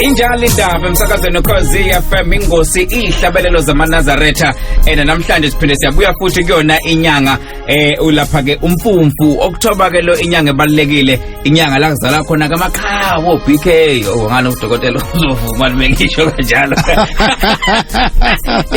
injalo indaba emsakazweni ukhozi fm ingosi iyihlabelelo zamanazaretha and namhlanje siphinde siyabuya futhi kuyona inyanga eh ulapha ke umfumfu okuthoba ke lo inyanga ebalekile inyanga la kuzala khona kamaqhawo BK ngani udokotela uzovuma limengisho kanjalo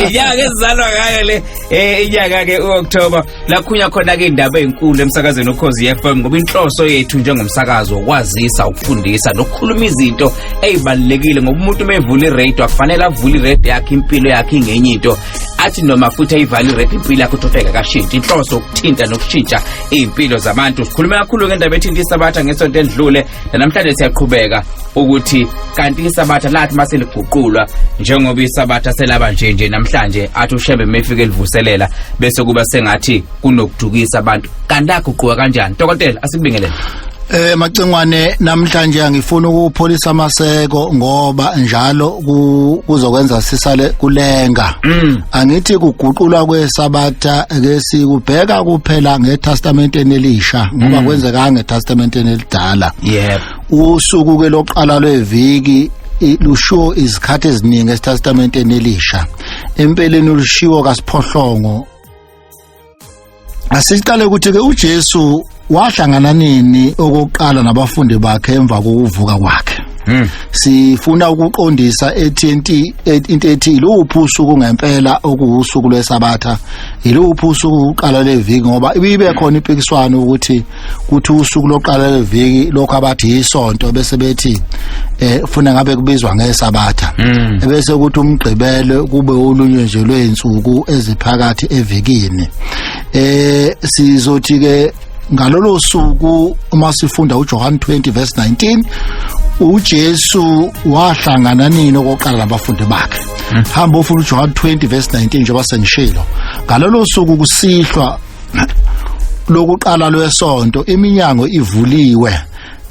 inyanga ezalwa ngayo le eh inyanga ke uOctober lakhunya khona ke indaba ezinkulu emsakazweni ukhozi FM ngoba inhloso yethu njengomsakazo ukwazisa ukufundisa nokukhuluma izinto ezibalekile ngoba umuntu mevula iradio akufanele avule iradio yakhe impilo yakhe ingenye into athi noma futhi ayivalue rap impilo yakho uthofeka kashintshi inhloso ukuthinta nokushintsha iy'mpilo zabantu sikhulume kakhulu ke ndaba ethinta isabatha ngesonto endlule nanamhlanje siyaqhubeka ukuthi kanti isabatha lathi uma seliguqulwa njengoba isabatha selaba nje nje namhlanje athi ushebe mefike livuselela bese kuba sengathi kunokudukisa abantu kanti laguquka kanjani dokotela asikubingelele Eh macengwane namhlanje angifuna ukupholisa amaseko ngoba njalo kuzokwenza sisale kulenga. Mm. Angithi kuguqulwa kwesabatha ke sikubheka kuphela ngeTestamenteni elisha ngoba mm. kwenzeka ngeTestamenteni elidala. Yebo. Usuku ke loqala lweviki lushiwo izikhathi eziningi eTestamenteni elisha. Empeleni ulushiwo kaSiphohlongo Asiqale ukuthi ke uJesu wahlangana nini okokuqala nabafundi bakhe emva kokuvuka kwakhe. Hmm. Sifuna ukuqondisa ethi into ethi iluphi usuku ngempela okuwusuku lwesabatha. Iluphi usuku uqala leviki ngoba ibibe khona impikiswano ukuthi kuthi usuku loqala leviki lokho abathi yisonto bese bethi eh funa ngabe kubizwa ngesabatha mm. bese ukuthi umgqibele kube ulunywe nje lweinsuku eziphakathi evikini eh sizothi ke ngalolo suku uma sifunda uJohn 20 verse 19 uJesu wahlangana nini okoqala nabafundi bakhe mm. hamba ufuna uJohn 20 verse 19 njengoba sengishilo ngalolo suku kusihlwa lokuqala lwesonto iminyango ivuliwe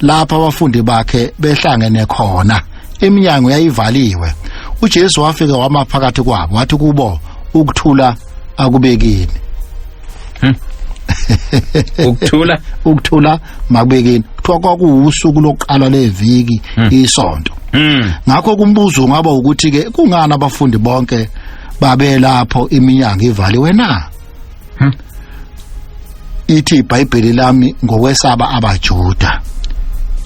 lapha abafundi bakhe behlangene khona iminyango yayivaliwe uJesu wafika wama phakathi kwabo wathi kubo ukuthula akubekini hmm. ukuthula ukuthula makubekini kuthiwa kwakuwusuku lokuqala leviki hmm. isonto hmm. ngakho kumbuzo ngaba ukuthi ke kungani abafundi bonke babelapho iminyango ivaliwe na hmm? ithi ibhayibheli lami ngokwesaba abajuda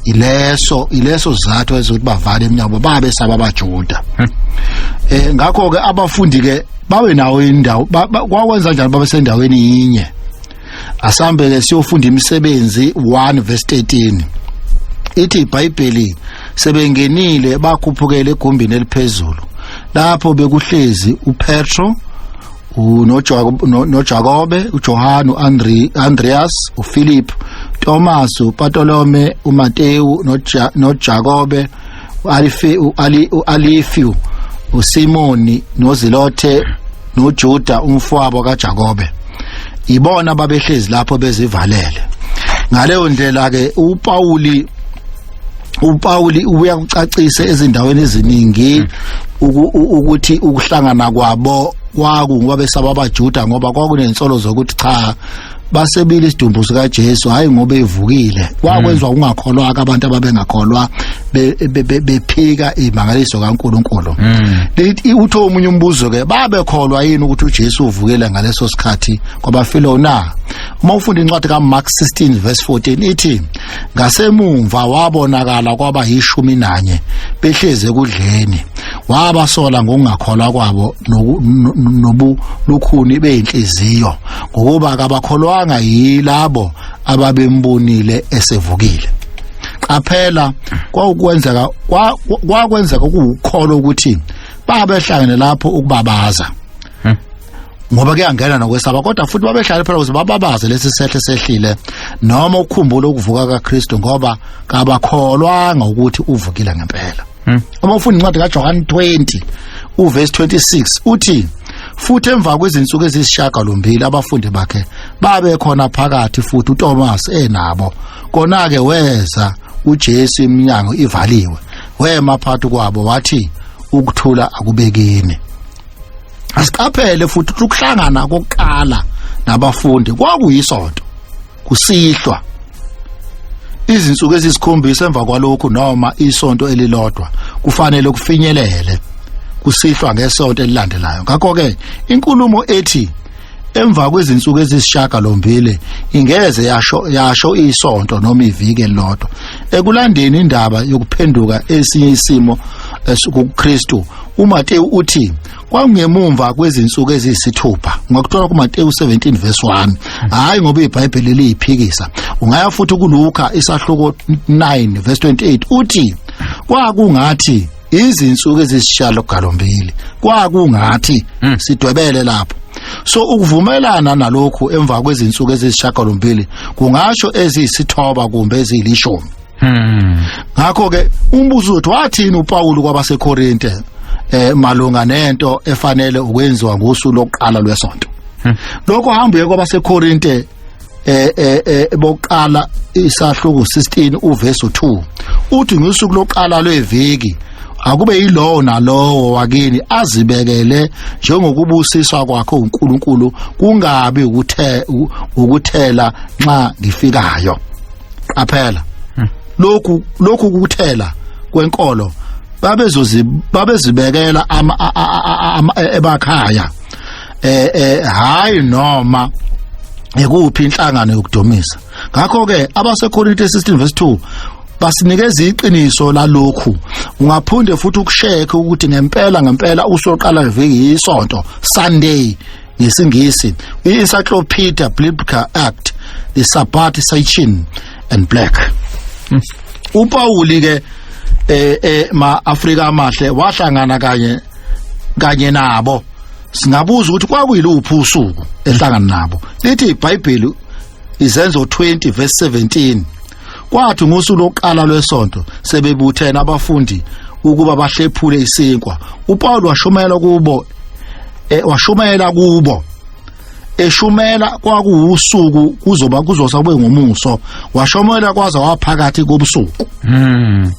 ileso ileso sizathu ezokuthi bavale eminyango babe saba abajuda hmm? eh ngakho ke abafundi ke bawe nawo indawo kwakwenza njani babe sendaweni yinye asambe ke siyofunda imisebenzi 1 verse 13 ithi ibhayibheli sebengenile bakhuphukele egumbini eliphezulu lapho bekuhlezi uPetro unojakobe ujohane u-andreas uphilip thomas upatolome umatewu nojakobe u-alifiu usimoni nozilothe nojuda umfowabo kajakobe ibona babehlezi lapho bezivalele ngaleyo ndlela-ke upawuli uPawuli ubuya kucacisa ezindaweni eziningi ukuthi ukuhlangana kwabo kwaku ngoba besaba abaJuda ngoba kwakunensolo zokuthi cha basebile isidumbu sika Jesu hayi ngoba evukile kwakwenzwa hmm. ungakholwa abantu ababengakholwa bephika imangaliso kaNkuluNkulu hmm. uthe umunye umbuzo ke babekholwa yini ukuthi uJesu uvukile ngaleso sikhathi kwabafilo na uma ufunda incwadi kaMark 16 verse 14 ithi ngasemumva wabonakala kwaba yishumi nanye behleze kudleni wabasola ngokungakholwa kwabo nobulukhuni beyinhliziyo ngokuba kabakholwanga yilabo ababembonile esevukile qaphela kwawukwenzeka kwakwenzeka ukuwukholo ukuthi babehlangene lapho ukubabaza ngoba kuyangena nokwesaba kodwa futhi babehlale phela ukuze bababaze lesi sehle sehlile noma ukukhumbula ukuvuka kaKristu ngoba kabakholwanga ukuthi uvukile ngempela hmm. uma ufunda incwadi kaJohane 20 uverse 26 uthi futhi emva kwezinsuku ezisishaka lombili abafundi bakhe babe khona phakathi futhi uThomas enabo kona ke weza uJesu iminyango ivaliwe wema phakathi kwabo wathi ukuthula akubekini asiqaphele futhi ukuthi ukuhlangana kokuqala nabafundi kwakuyisonto kusihlwa izinsuku ezisikhombisa emva kwalokhu noma isonto elilodwa kufanele kufinyelele kusihlwa ngesonto elilandelayo ngakho ke inkulumo ethi emva kwezinsuku ezisishaka lombili ingeze yasho yasho isonto noma iviki elilodwa ekulandeni indaba yokuphenduka esinye isimo eh, kuKristu uMateyu uthi kwangemumva kwezinsuku eziyisithupha ngakuthola kuMateyu 17 verse 1 hayi ngoba iBhayibheli liyiphikisa ungaya futhi kuLuka isahluko 9 verse 28 uthi kwakungathi izinsuku ezisishalo galombili kwakungathi hmm. sidwebele lapho so ukuvumelana nalokhu emva kwezinsuku ezisishagalombili kungasho eziyisithoba kumbe ezilishumi hmm. ngakho ke umbuzo uthi wathini uPawulu kwabaseKorinte eh malunga nento efanele ukwenziwa ngosuku lokuqala lwesonto hmm. lokho hamba uye kwabaseKorinte eh eh, eh bokuqala isahluko 16 uverse 2 uthi ngosuku lokuqala lweviki akube yilowo nalowo wakini azibekele njengokubusiswa kwakhe uNkulunkulu kungabi ukuthe ukuthela nxa ngifikayo qaphela hmm. lokhu lokhu kuthela kwenkolo babezozi babezibekela ama ebakhaya eh eh hayi noma ekuphi inhlangano yokudomisa ngakho ke abaseKorinte 16 verse 2 basinikeza iqiniso lalokhu ungaphinde futhi ukushekhe ukuthi ngempela ngempela usoqala ngeviki isonto Sunday ngesingisi i-encyclopedia biblical act the sabbath sachin and black hmm. upawuli ke eh eh ma Afrika amahle wahlangana kanye kanye nabo singabuza ukuthi kwakuyiluphi usuku ehlangana nabo lithi iBhayibheli izenzo 20 verse 17 kwathi ngosuku lokuqala lwesonto sebebuthene abafundi ukuba bahlephule isinkwa uPaul washumayela kubo e, washumayela kubo eshumela kwakuwusuku kuzoba kuzosa kube ngomuso washumayela kwaze waphakathi kobusuku mm.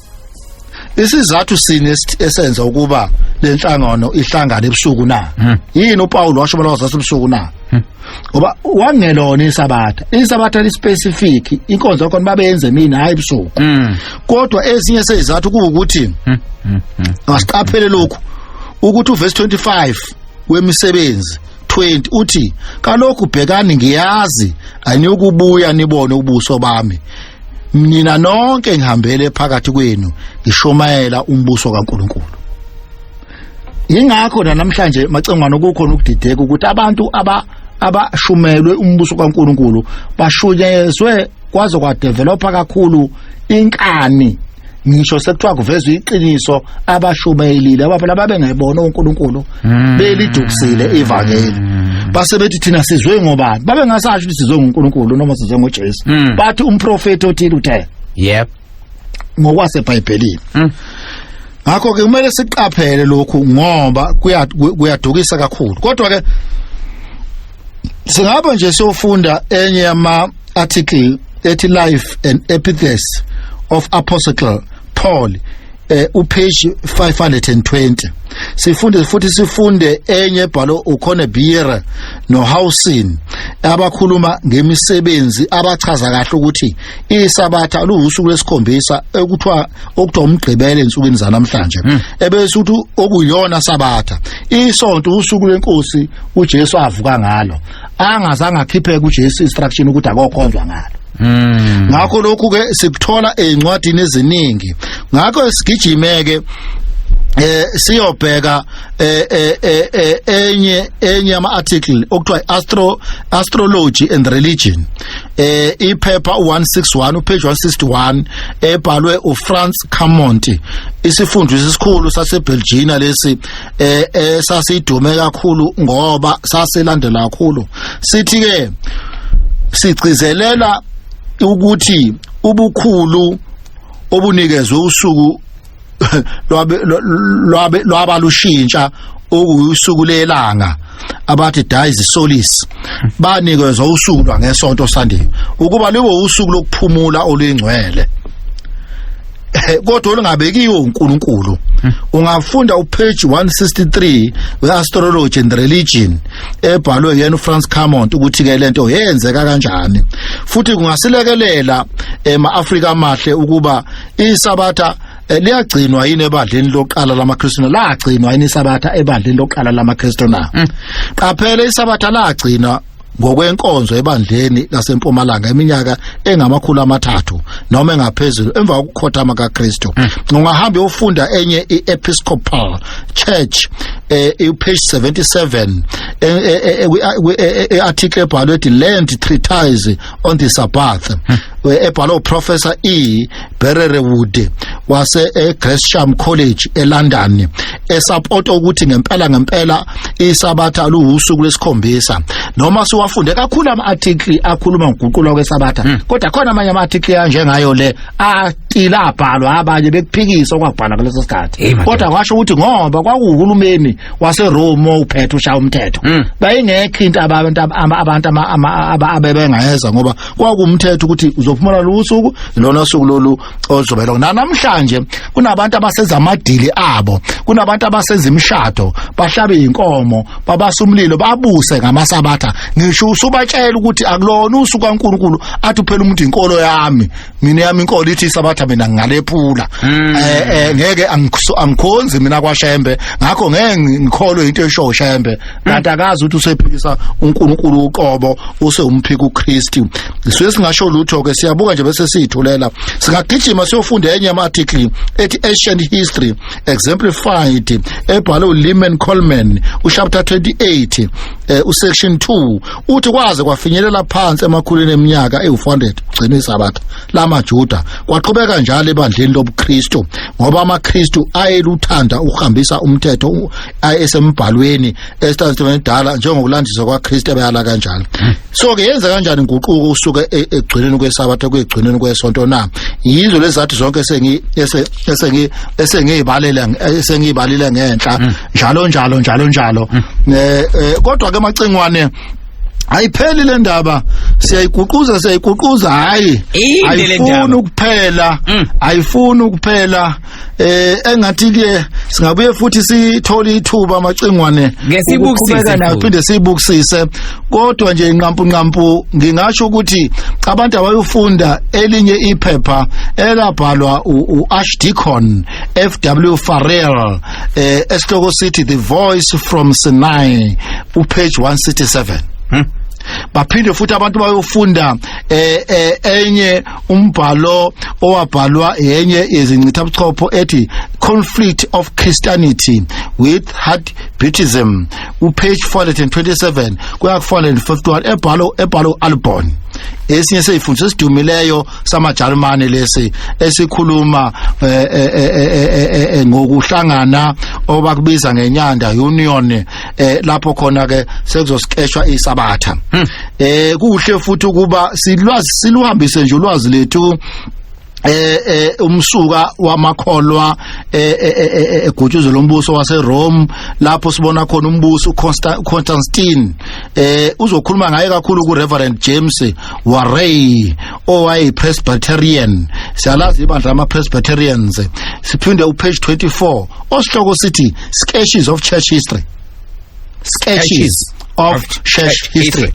isizathu sini esenza ukuba lenhlangano ihlangane ebusuku na hmm. yini uPaul washo bona wazasa ebusuku na hmm. ngoba wangelona isabatha isabatha lispecific inkonzo yakho babenze mina hayi ebusuku hmm. kodwa ezinye sezizathu kuwukuthi asiqaphele lokhu ukuthi uverse 25 wemisebenzi 20 uthi kalokhu bhekani ngiyazi aniyokubuya nibone ubuso bami mina nonke ngihambele phakathi kwenu ngishomayela umbuso kaNkuluNkulu ingakho namhlanje macengwana ukukhona ukudideka ukuthi abantu aba abashumelwe umbuso kaNkuluNkulu bashunyezwe kwaze kwadevelopa kakhulu inkani ngisho sekuthiwa kuvezwa iqiniso abashumayelile abafana babengebona uNkulunkulu hmm. belidukisile ivangeli hmm. base bethi thina sizwe ngobani babengasasho ukuthi sizwe nguNkulunkulu noma sizwe ngoJesu hmm. bathi umprofeti othile uthe yep ngokwasebhayibhelini ngakho ke kumele siqaphele lokhu ngoba kuyadukisa kakhulu kodwa ke singabe nje sofunda enye yama article ethi life and epithes of apostle Paul eh upage 520 sifunde futhi sifunde enye ebhalo ukhona Biera noHousin abakhuluma ngemisebenzi abachaza kahle ukuthi isabatha luwusuku lesikhombisa ekuthiwa okuthiwa umgqibelo ensukwini zanamhlanje hmm. ebese ukuthi okuyona sabatha isonto usuku lenkosi uJesu avuka ngalo angazange akhiphe kuJesu instruction ukuthi akokhonzwa ngalo Mm. ngakho lokhu ke sikuthola ezincwadini eziningi ngakho sigijimeke eh siyobheka eh, eh, eh, eh, enye enye ama article okuthiwa astro astrology and religion eh iphepha 161 upage 161 ebhalwe uFrance Camonti isifundisi esikhulu saseBelgium lesi eh esasidume eh, kakhulu ngoba sasilandela kakhulu sithi ke sigcizelela ukuthi ubukhulu obunikezwe usuku lwabe lwabe lwabalushintsha okusuku lelanga abathi dies solis banikezwa usuku lwangesonto sandiwe ukuba libe usuku lokuphumula oluyingcwele eh, kodwa olungabekiwe uNkulunkulu hmm. ungafunda upage 163 weastrology and religion ebhalwe yena uFrance Camont ukuthi ke lento yenzeka kanjani futhi kungasilekelela ema Africa amahle ukuba isabatha Eh, liyagcinwa yini ebandleni lokuqala lamaKristu lagcinwa yini isabatha ebandleni lokuqala lamaKristu na mm. qaphela isabatha lagcinwa ngokwenkonzo ebandleni lasempumalanga iminyaka engamakhulu amathathu noma engaphezulu emva kokukhothama kaKristu mm. ungahamba ufunda enye iEpiscopal Church eh page 77 earticle ebhalwe ethi land treatise on the sabbath mm. ebhalwe uprofessor E Bererewood wase eGresham College eLondon esapota ukuthi ngempela ngempela isabatha luwusuku lesikhombisa noma siwafunde kakhulu ama article akhuluma ngokuguqulwa kwesabatha hmm. kodwa khona amanye ama article anjengayo le atila abhalwa abanye bekuphikisa okwabhala kuleso sikhathi kodwa kwasho ukuthi ngoba kwakuhulumeni waseRome uphethe ushaya umthetho hmm. bayingekho into abantu abantu ababengayeza ngoba kwakumthetho ukuthi uzophumula losuku lona suku lolu ozobe lokho namhlanje kunabantu abaseza amadili abo kunabantu abaseza imishado bahlabe inkomo babasa umlilo babuse ngamasabatha ngisho usubatshela ukuthi akulona usuku kaNkuluNkulu athi uphela umuntu inkolo yami mina yami inkolo ithi isabatha mina ngalephula hmm. eh, eh ngeke angikhonzi mina kwaShembe ngakho ngeke ngikholwe into esho uShembe kanti akazi ukuthi usephikisa uNkulunkulu uqobo usewumphika uKristu sisuke singasho lutho ke siyabuka nje bese sithulela singagijima siyofunda enye ama article ethi ancient history exemplified ebhalwe uLiman Coleman uchapter 28 eh, usection 2 uthi kwaze kwafinyelela phansi emakhulwini eminyaka ewu400 gcina isabatha lamaJuda kwaqhubeka njalo ebandleni lobuKristu ngoba amaKristu ayeluthanda ukuhambisa umthetho ayesembhalweni esithandweni edala njengokulandiswa kwaKristu abayala kanjalo so ke yenza kanjani inguquko usuke e, egcinweni kwesabatha kwegcinweni kwesonto na yizo lezathi zonke sengi esengi esengiyibalela esengiyibalile ngenhla mm. njalo njalo njalo njalo mm. eh, eh, kodwa ke macingwane ayipheli le ndaba siyayiguquza siyayiguquza hayi ayifuni ukuphela mm. ayifuni ukuphela eh engathi ke singabuye futhi sithole ithuba amacingwane ngesibukisise naphinde sibukisise kodwa nje inqampu nqampu ngingasho ukuthi abantu abayofunda elinye iphepha elabhalwa uArchdeacon FW Farrell eh esihloko sithi the voice from Sinai upage 167 hmm? baphinde futhi abantu bayofunda eh, eh enye umbhalo owabhalwa yenye yezincithabuchopho ethi conflict of christianity with hard buddhism upage 427 kuya ku-451 ebhalo ebhalo u-albon esinye seyifundisa esidumileyo samajalimane lesi esikhuluma eh, eh, eh, ngokuhlangana obakubiza ngenyanda union eh lapho khona ke sekuzosikeshwa isabatha hmm. eh kuhle futhi ukuba silwazi siluhambise nje ulwazi lethu eh eh umsuka wamakholwa eh, eh, eh, egutshuzo lombuso waseRome lapho sibona khona umbuso uConstantine eh uzokhuluma ngaye kakhulu kuReverend James Warray owayi-presbyterian siyalazi ibandla lama-presbyterians siphinde upage 24 osihloko sithi sketches of church history sketches of church history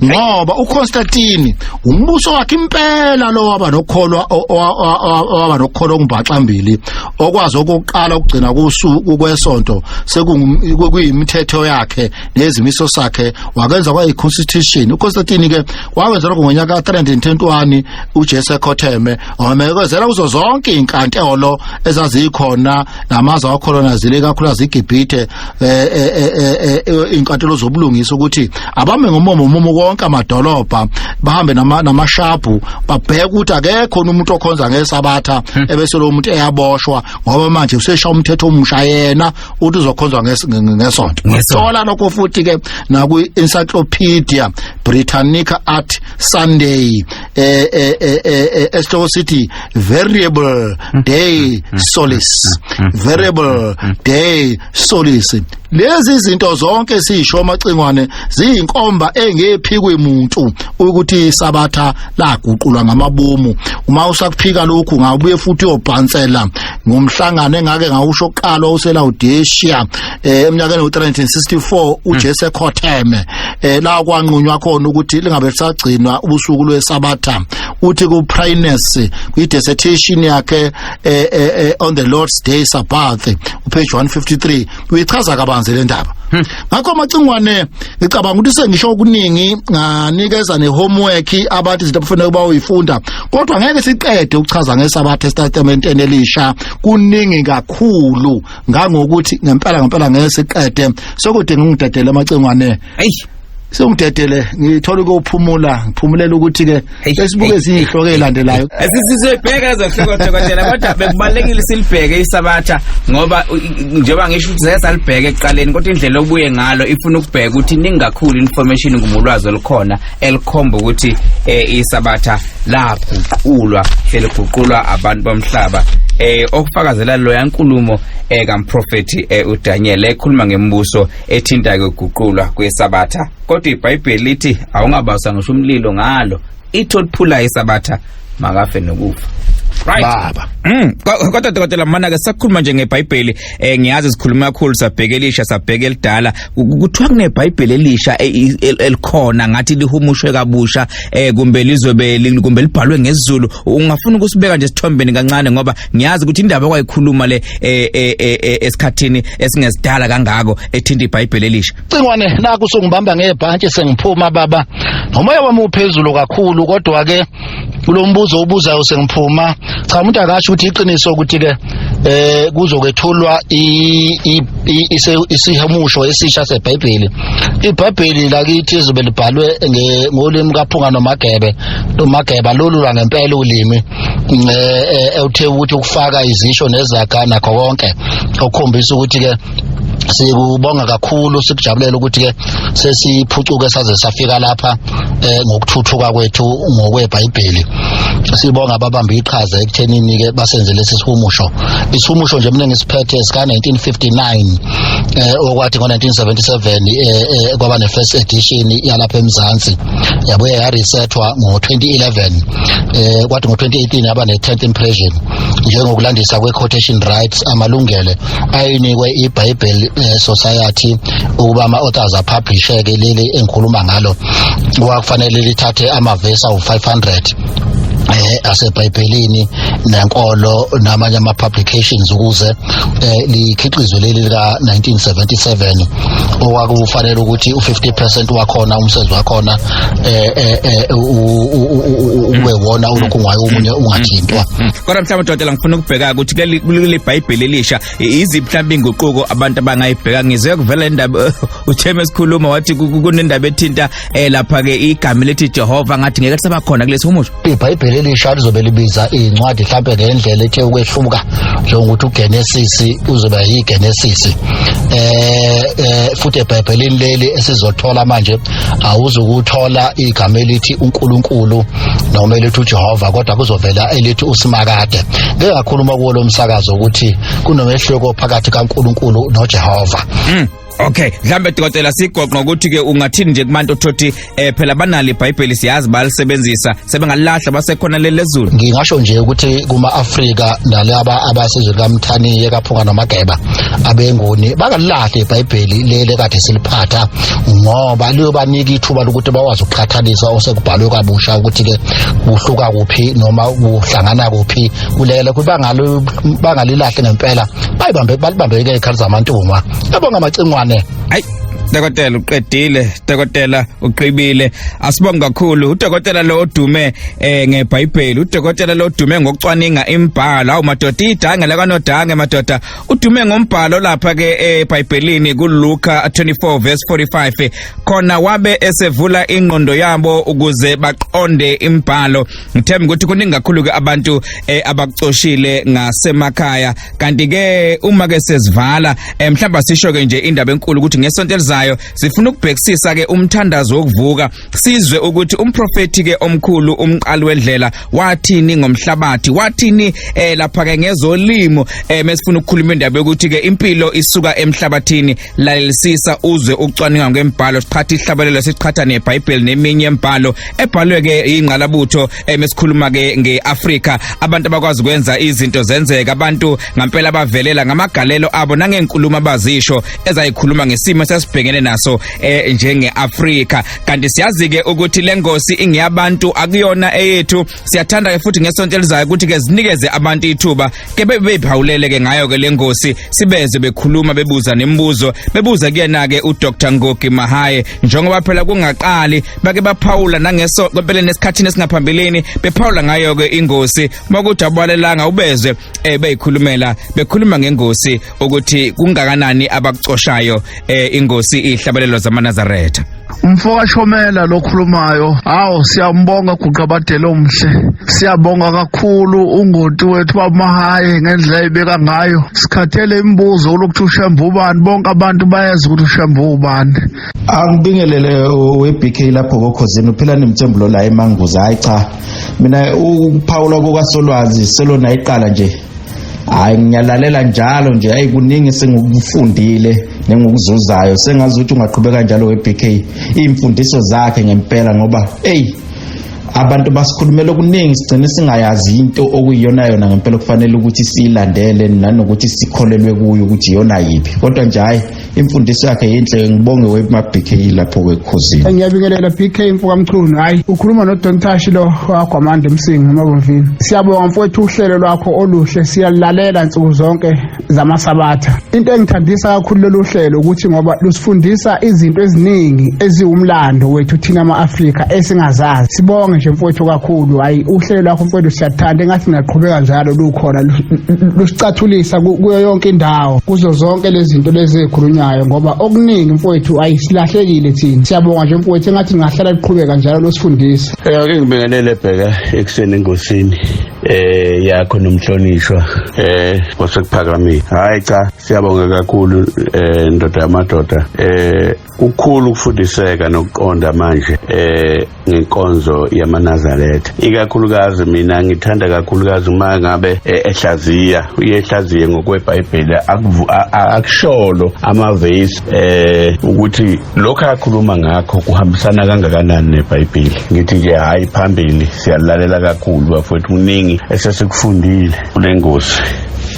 ngoba uConstantine umbuso wakhe impela lo waba nokholwa waba nokholwa kumbaxa mbili okwazi ukuqala ukugcina kusuku kwesonto sekuyimithetho yakhe nezimiso sakhe wakenza kwayi constitution uConstantine ke wakwenzela ngonyaka ka-321 ujesu ekhotheme wamekezela kuzo zonke iy'nkantolo ezazikhona namazwe awakolonazile ikakhulukazi igibhithe um eh, eh, eh, iy'nkantolo zobulungisa ukuthi abame ngomumo umumo konke amadolobha bahambe namashabhu babheke ukuthi akekho umuntu okhonza ngesabatha hmm. ebese lo muntu eyaboshwa ngoba manje usesha umthetho omusha yena uthi uzokhonzwa ngesonto ngithola lokho futhi ke naku encyclopedia britannica art sunday eh eh eh, eh, eh esihloko sithi variable hmm. day hmm. solace hmm. variable day solace lezi zinto zonke sisho amacingwane ziyinkomba engephi kwemuntu ukuthi isabatha laguqulwa ngamabomu uma usakuphika lokhu ngabuye futhi uyobhansela ngomhlangano engake ngawusho kuqalwa uselawudeshiya um eh, emnyakeni wo-364 ujesu hmm. ekhotheme um la kwanqunywa khona ukuthi lingabe lisagcinwa ubusuku lwesabatha uthi ku-prines kwi-desertation yakhe um on the lord's day sabbath upage 153 uyichaza kabanzi le ndaba hmm. ngakho amacingwane ngicabanga ukuthi sengisho okuningi nganikeza nehomework abathi izinto abafanele ukuba uyifunda kodwa ngeke siqede ukuchaza ngesabatha esitatementeni elisha kuningi kakhulu ngangokuthi ngempela ngempela ngeke siqede sokudinga ungidedele amacingwane eyi sewudedele ngithola ukuphumula ngiphumulela ukuthi ke esibuke izihloko ezilandelayo sisizobheka ezohloko dokotela kodwa bekubalekile silibheke isabatha ngoba njengoba ngisho ukuthi zeke salibheke ekuqaleni kodwa indlela obuye ngalo ifuna ukubheka ukuthi ningakhulu information ngumulwazi olukhona elikhomba ukuthi eh, isabatha laguqulwa seliguqulwa abantu bomhlaba eh okufakazela loya nkulumo eh kamprofeti eh uDaniel ekhuluma ngembuso ethinta ke uguqulwa kwesabatha kodwa ibhayibheli lithi awungabasa ngisho umlilo ngalo ithi oliphulayo isabatha makafe nokufa right baba mm kodwa dokotela mana ke sakhuluma nje ngebhayibheli eh ngiyazi sikhuluma kakhulu sabheke elisha sabheke elidala kuthiwa kunebhayibheli elisha e, e, elikhona ngathi lihumushwe kabusha eh kumbe lizobe kumbe libhalwe ngesiZulu ungafuna ukusibeka nje sithombeni kancane ngoba ngiyazi ukuthi indaba kwayikhuluma le eh, eh, eh, esikhathini esingesidala kangako ethinta iBhayibheli elisha cingwane naku sungibamba ngebhantshi sengiphuma baba ngomoya wami uphezulu kakhulu kodwa ke kulombuzo ubuzayo sengiphuma cha umuntu akasho ukuthi iqiniso ukuthi ke eh kuzokwethulwa isihamusho esisha seBhayibheli iBhayibheli lakithi izobe libhalwe ngolimi kaphunga nomagebe nomageba lolu lwangempela ulimi um uthe ukuthi ukufaka izisho nezaga nakho konke okukhombisa ukuthi-ke sikubonga kakhulu sikujabulela ukuthi-ke sesiphucuke saze safika lapha um ngokuthuthuka kwethu ngokwebhayibheli sibonga ababambe iqhaza ekuthenini-ke basenze lesi sihumusho isihumusho nje mina ngisiphethe sika-1959 um eh, okwathi ngo-1977 um eh, kwaba ne-first edition yalapha emzansi yabuye yaresethwa ngo-2011 eh kwathi ngo-2018 yaba ne-tenth impression njengokulandisa kwe-quotation rights amalungele ayinikwe i-bible eh, society ukuba ama-authors apublisheke leli engikhuluma ngalo kwakufanele lithathe amavesi awu-500 eh asebhayibhelini nenkolo namanye ama publications ukuze eh likhiqizwe leli lika 1977 okwakufanele ukuthi u50% wakhona umsebenzi wakhona eh, eh, eh ube wona ulokhu ngayo umunye ungathintwa kodwa mhlawumbe dodela ngifuna ukubheka ukuthi kuleli bhayibheli elisha iziphi mhlawumbe inguquko abantu abangayibheka ngizwe kuvela indaba utheme sikhuluma wathi kunendaba ethinta eh lapha ke igama elithi Jehova ngathi ngeke kusaba khona kulesi humusho iBhayibheli elisha lizobe libiza incwadi mhlambe ngendlela ethe ukwehluka njengokuthi uGenesis uzoba yiGenesis eh, eh futhi eBhayibhelini leli esizothola manje awuzukuthola igama elithi uNkulunkulu noma elithi uJehova kodwa kuzovela elithi uSimakade ngeke ngakhuluma kuwo lomsakazo ukuthi kunomehluko phakathi kaNkulunkulu noJehova mm. Okay, mhlambe dokotela sigoqo ngokuthi ke ungathini nje kubantu othothi eh phela banali iBhayibheli siyazi balisebenzisa sebengalahla basekhona lelezulu. Ngingasho nje ukuthi kuma Africa nalaba abasizwe kaMthani yekaphunga nomageba abengoni bakalahla iBhayibheli lele kade siliphatha ngoba liyobanika ithuba lokuthi bawazi ukuqhathanisa osekubhalwe kabusha ukuthi ke kuhluka kuphi noma kuhlangana kuphi kulele kubangalo bangalilahle ngempela bayibambe balibambeke ikhali zamantungwa Siyabonga Macingwane. Hayi Dokotela uqedile, dokotela uqibile. Asibonge kakhulu udokotela lo odume eh ngeBhayibheli, udokotela lo odume ngokucwaninga imbhalo. Awu madoda idanga la kanodange madoda. Udume ngombhalo lapha ke eBhayibhelini kuLuka 24 verse 45. Khona wabe esevula ingqondo yabo ukuze baqonde imbhalo. ngithemba ukuthi kuningi kakhulu ke abantu eh, abakucoshile ngasemakhaya kanti ke uma ke sezivala eh, mhlawumbe sisho ke nje indaba enkulu ukuthi ngesonto elizayo sifuna ukubhekisisa ke umthandazo wokuvuka sizwe ukuthi umprofeti ke omkhulu umqali wedlela wathini ngomhlabathi wathini eh, lapha ke ngezolimo eh, mesifuna ukukhuluma indaba yokuthi ke impilo isuka emhlabathini lalelisisa uzwe ukucwaninga kwembhalo siqhatha ihlabalelo siqhatha nebhayibheli neminye embhalo ebhalwe ke ingqalabutho emesikhuluma ke ngeAfrika abantu abakwazi kwenza izinto zenzeka abantu ngampela bavelela ngamagalelo abo nangenkulumo abazisho ezayikhuluma ngesimo sesibhekene naso eh, njengeAfrika kanti siyazi ke ukuthi lengosi ingeyabantu akuyona eyethu siyathanda ke futhi ngesonto elizayo ukuthi ke zinikeze abantu ithuba ke bebeyiphawulele ke ngayo ke lengosi sibeze bekhuluma bebuza nemibuzo bebuza kuyena ke uDr Ngogi Mahaye njengoba phela kungaqali bake baphawula nangeso kwempeleni esikhathini esingaphambilini bephawula ngayo ke ingosi uma kuthi abalelanga ubezwe eh beyikhulumela bekhuluma ngengosi ukuthi kungakanani abakucoshayo eh ingosi ihlabalelo zamaNazaretha umfo kashomela lokhulumayo hawu siyambonga guqabadele omhle siyabonga kakhulu ungoti wethu wamahaye ngendlela ebeka ngayo sikhathele imibuzo kulokuthi ushembe ubani bonke abantu bayazi ukuthi ushembe ubani angibingelele we-bk lapho kokhozini uphilani mthembulo la emanguza hayi cha mina ukuphawula kukasolwazi selona iqala nje hayi ngiyalalela njalo nje hayi kuningi sengikufundile nengokuzuzayo sengazi ukuthi ungaqhubeka njalo we-bk iy'mfundiso zakhe ngempela ngoba eyi abantu basikhulumela okuningi sigcine singayazi into okuyiyona yona ngempela okufanele ukuthi siyilandele nanokuthi sikholelwe kuyo ukuthi iyona yiphi kodwa nje hhayi imfundiso yakhe yinhle ngibonge webk lapho kwekhosini ngiyabingelela bk mfokamchunu hhayi ukhuluma nodontashi lo wagwamanda emsingi emabomvini siyabonga mfowethu uhlelo lwakho oluhle siyalilalela nsuku zonke zamasabatha into engithandisa kakhulu lolu hlelo ukuthi ngoba lusifundisa izinto eziningi eziwumlando wethu thina ama-afrika esingazazi sibonge nje mfowethu kakhulu hhayi uhlelo lwakho mfowethu siyathanda engathi ngaqhubeka njalo lukhona lusicathulisa kuyo yonke indawo kuzo zonke lezi zinto lezi ezikhulunywayo ngoba okuningi mfowethu ayisilahlekile thina siyabonga nje mfowethu engathi ngahlala liqhubeka njalo losifundisa eh ake ngibingelele bheka ekuseni engosini eh yakho nomhlonishwa eh kwasekuphakamile hayi cha siyabonga kakhulu eh ndoda yamadoda eh kukhulu ukufundiseka nokuqonda manje eh ngenkonzo yamanazaretha ikakhulukazi mina ngithanda kakhulukazi uma ngabe eh, ehlaziya uyehlaziye ngokwebhayibheli akusholo amavesi eh ukuthi lokho akhuluma ngakho kuhambisana kangakanani nebhayibheli ngithi nje hayi phambili siyalalela kakhulu bafowethu kuningi esesikufundile kule ngosi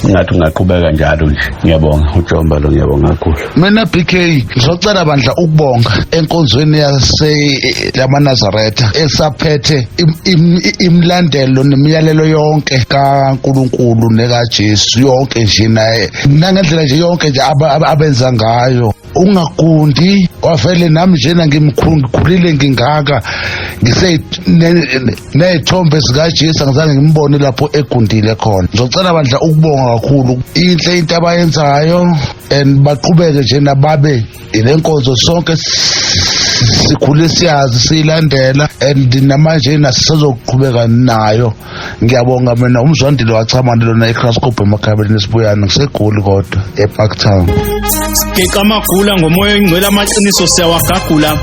ngathi ungaqhubeka njalo nje ngiyabonga ujomba lo ngiyabonga kakhulu mina bk ngizocela bandla ukubonga enkonzweni yaseyamanazaretha esaphethe imlandelo nemiyalelo yonke kankulunkulu nekajesu yonke nje naye nangendlela nje yonke nje abenza ngayo ungagundi wavele nami njena ngimkhulile ngingaka ngiseyinene nezithombe zikaJesu angizange ngimbone lapho egundile khona ngizocela bandla ukubonga kakhulu inhle into abayenzayo and baqhubeke nje nababe ile nkonzo sonke sikhule siyazi siyilandela and namanje yena sisazoqhubeka nayo ngiyabonga mina umzwandile wachamane lona ecrascope emakhabeleni esibuyana ngisegoli kodwa epark town geqa amagula ngomoya oyingcwele amaqiniso siyawagagula